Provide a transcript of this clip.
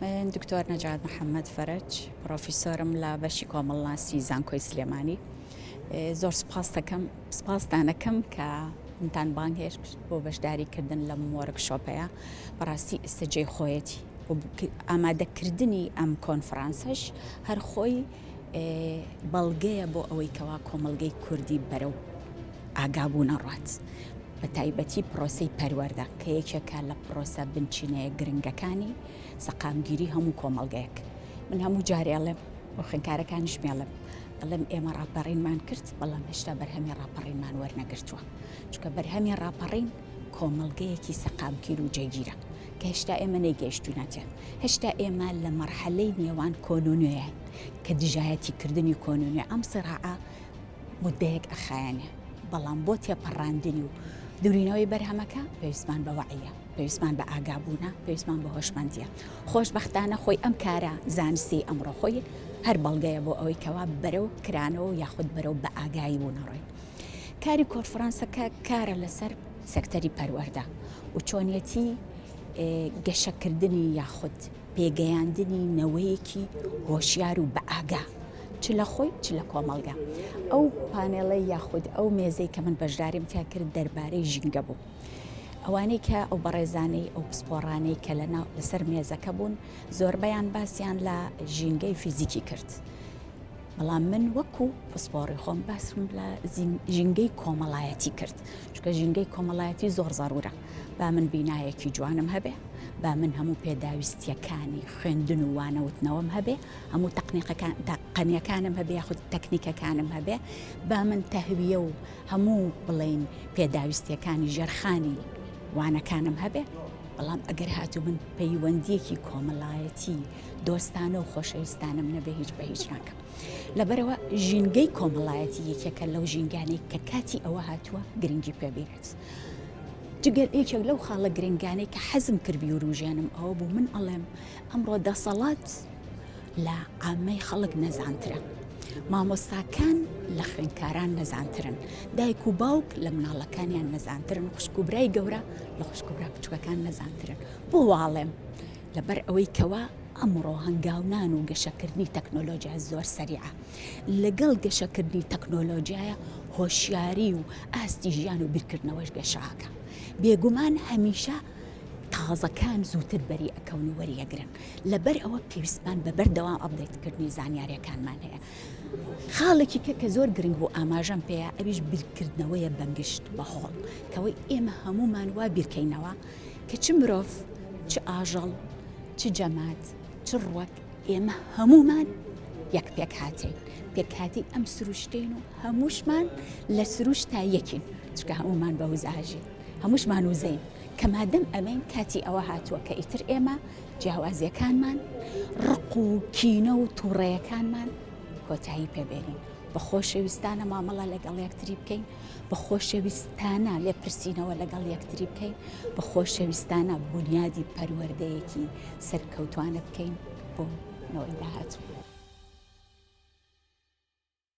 من دکتۆر نەجات محەممەد فەرج پرۆفیسۆرم لە بەشی کۆمەڵناسی زانکۆی سلێمانی زۆر سپاس دەکەم سپاسدانەکەم کە منتان بانگهێشت بۆ بەشداریکردن لەم وەرگ شۆپەیە بەڕاستی ئستەجێ خۆیەتی ئامادەکردنی ئەم کۆنفرانسش هەر خۆی بەڵگەیە بۆ ئەوەی کەوا کۆمەڵگەی کوردی بەرەو ئاگابوون ئەڕات بە تایبەتی پرۆسی پەروەەردە کە یەکێکە لە پرۆسە بنچینەیە گرنگەکانی سەقامگیری هەموو کۆمەڵگەیەک من هەموو جارێڵێم بۆ خوێنکارەکانیش مێڵم ئەڵێم ئێمە ڕاپەڕینمان کرد بەڵام هێشتا بەرهەمی ڕاپەڕینمان وەرنەگرتووە چکە بەرهەمی ڕاپەڕین کۆمەڵگەیەکی سەقامکیر و جێگیرە کە هێشتا ئێمە نەیگەیشتوینەتێ، هێشتا ئێمە لە مەرحەلەی نێوان کۆن و نوێین، کە دژایەتی کردنی کۆن و نوێ ئەم سیراعە موددەیەک ئەخایەنێ، بەڵام بۆ تێپەڕاندنی و دورینەوەی بەرهەمەکە پێویستمان بە وەعیە، پێویستمان بە ئاگابوونە، پێویستمان بە هۆشمەندیە، خۆشبەختانە خۆی ئەم کارە زانستیەی ئەمڕۆ خۆی هەر بەڵگەیە بۆ ئەوەی کەوا بەرەو کرانەوە و یاخود بەرەو بەئاگایی بوونە ڕۆین. کاری کۆرفرانسەکە کارە لەسەر. سەکتەری پەروەردە و چۆنیەتی گەشەکردنی یاخود پێگەیاندنی نەوەیەکی هۆشیار و بەئاگا چ لە خۆی چ لە کۆمەڵگە ئەو پانێڵەی یاخود ئەو مێزەی کە من بەشداریم تیا کرد دەربارەی ژینگە بوو. ئەوانەی کە ئەو بەڕێزانەی ئەو پسپۆڕانەی کە لە ناو لەسەر مێزەکە بوون زۆربەیان باسییان لە ژینگەی فیزیکی کرد. بەڵام من وەکو پسپۆڕی خۆم باسم لە ژینگەی کۆمەڵایەتی کرد. چونکە ژینگەی کۆمەڵایەتی زۆر زەرورە با من بینایەکی جوانم هەبێ با من هەموو پێداویستیەکانی خوێندن و وانەوتنەوەم هەبێ هەموو تەقنیقەکان تەقەنیەکانم هەبێ یاخود تەکنیکەکانم هەبێ با من تەهویە و هەموو بڵین پێداویستیەکانی ژێرخانی وانەکانم هەبێ بەڵام ئەگەر هاتوو من پەیوەندیەکی کۆمەڵایەتی دۆستانە و خۆشەویستانم نەبێ هیچ بە هیچ ناکەم. لەبەرەوە ژینگەی کۆمەڵایەتی یەکێکە لەو ژینگانی کە کاتی ئەوە هاتووە گرنگی پێبیرێت. جگەل یەکێک لەو خاڵە گرنگانەی کە حەزم کرد بیوروژێنم ئەوە بوو من ئەڵێم ئەمڕۆ دەسەڵات لە ئامەی خەڵک نەزانترە. مامۆستاکان لە خوێنکاران نەزانترن دایک و باوک لە مناڵەکانیان نەزانترن خوشکوبرای گەورە لە خوشکوبرا بچووکەکان نەزانترن بۆ واڵێم لەبەر ئەوەی کەوا ئەمڕۆ هەنگاونان و گەشەکردنی تەکنۆلۆژیا زۆر سەریعە لەگەڵ گەشەکردنی تەکنۆلۆژیایە هۆشیاری و ئاستی ژیان و بیرکردنەوەش گەشاکە بێگومان هەمیشە تازەکان زووتر بەری ئەکەون و وەریەگرن لەبەر ئەوە پێویستمان بە بەردەوام ئەبدەیتکردنی زانیاریەکانمان هەیە خاڵێکی کە کە زۆر گرنگ بوو ئاماژەم پێەیە ئەویش بیرکردنەوەیە بەنگشت بەهۆڵ کەەوەی ئێمە هەمومان وا بیرکەینەوە کە چ مرۆڤ، چ ئاژەڵ، چ جەماد، چ ڕوەک، ئێمە هەموومان یەک پێکهاتەین، پێکهاتی ئەم سروشتین و هەمووشمان لە سروشت تا یەکین، چکە هەموومان بە وزاژین، هەمووشمان وزەین، کە مادەم ئەمەین کاتی ئەوە هاتووە کە ئیتر ئێمە جیاوازیەکانمان، ڕق و کینە و توڕەیەکانمان کۆتایی پێ بێنین، بە خۆشەویستانە مامەڵە لەگەڵ یەکتری بکەین. بە خۆشەویستانە لێپرسینەوە لەگەڵ یەکتری بکەین بە خۆشەویستانە بنیادی پەروەردەیەکی سەرکەوتوانە بکەین بۆ نەوەی داهاتوو.